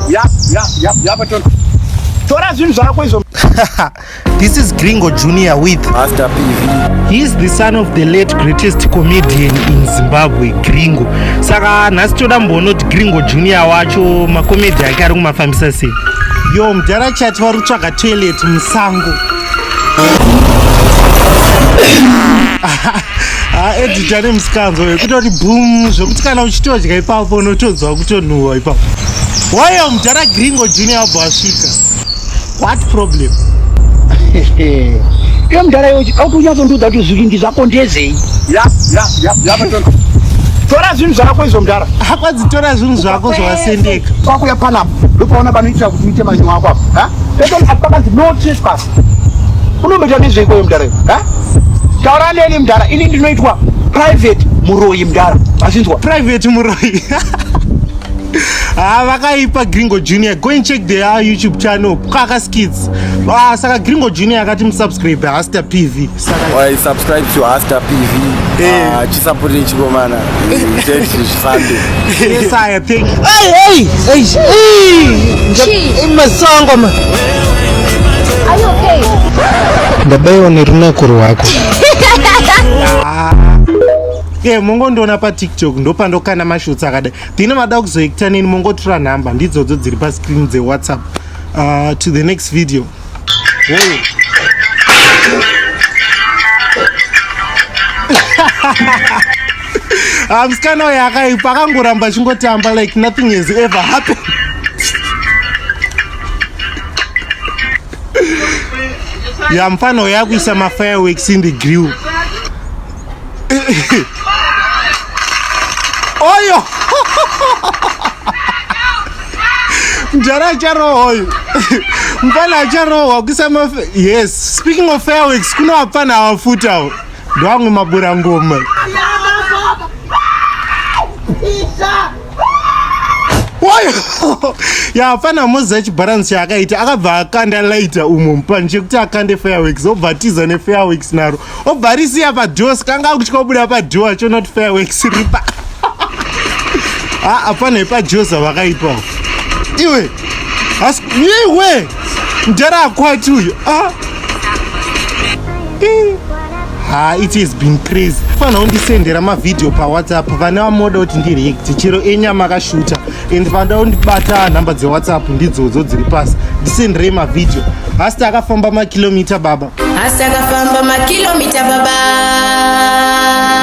Yap, yap, yap, yap, tora. Tora zvinhu zvako izvo. This is Gringo Junior with Master PV. He is the son of the late greatest comedian in Zimbabwe, Gringo. Saka nhasi toda mbonoti Gringo Junior wacho makomedi ake ari kumafambisa sei? Yo, mdhara chati vari kutsvaga toilet musango. edita nemusikanzo vekutoti bum zvekuti kana uchitodya ipapo unotodzwa kutonhuhwa ipapo wayo mudhara gringo junior abho asvika what problem iye mudhara iwe auti unyatsondiudza kuti zvivindi zvako ndezei tora zvinhu zvako izvo mudhara akwadzi tora zvinhu zvako zvawasendeka kwakuya panapa ndopaona panoitira kuti uite manyi wako apo ha? Pese apa pakanzi no trespass unomboita nezvei kweyo mdara iwe ha? taura neni mdara ini ndinoitwa private muroyi mdara azvinzwa private muroyi Ah, vakaipa gringo junior go and check their youtube channel kwaka skits ah, saka gringo junior akati musubscribe hasta pv Oi, subscribe to Hasta PV. Hey. Uh, chisapoti chikomana. Jet zvifambe. Yes, I think. Hey, hey, hey, hey. Chi. Masongo ma. Are you okay? Ndabaiwa nerunako rwako. Yeah, mongondiona patiktok ndopandokana mashotsi akadai tine mada kuzoekita neni mongotura nhamba ndidzodzo dziri pascreen dzewhatsapp uh, to the next video Hey. Ah, musikana uyo akaipa akangoramba achingotamba like nothing has ever happened ya mfana uyo akuisa mafireworks in the grill oyo mjara acharohwa uyu mfana acharohwa kusama yes speaking of fairworks kuna wapfana awafutawo ndowamwe mabura ngoma yapfana moza chibharansi chaakaita akabva akanda laita umo mupani chekuti akande fairworks obva atiza nefairworks naro obva arisiya padoa sikanga akutya kubuda padoa achiona kuti fairworks ripa haa apana ipajoza vakaipawo iwe asi iwe ndara akwati uyo a ah. ha it has been crazy fanira kundisendera mavhidhiyo pawhatsapp vane vamoda kuti ndireact chero enyama akashuta and vanoda kundibata nhamba dzewhatsapp ndidzodzo dziri pasi ndisenderei mavhidhiyo hasta akafamba makilomita baba hasta akafamba makilomita baba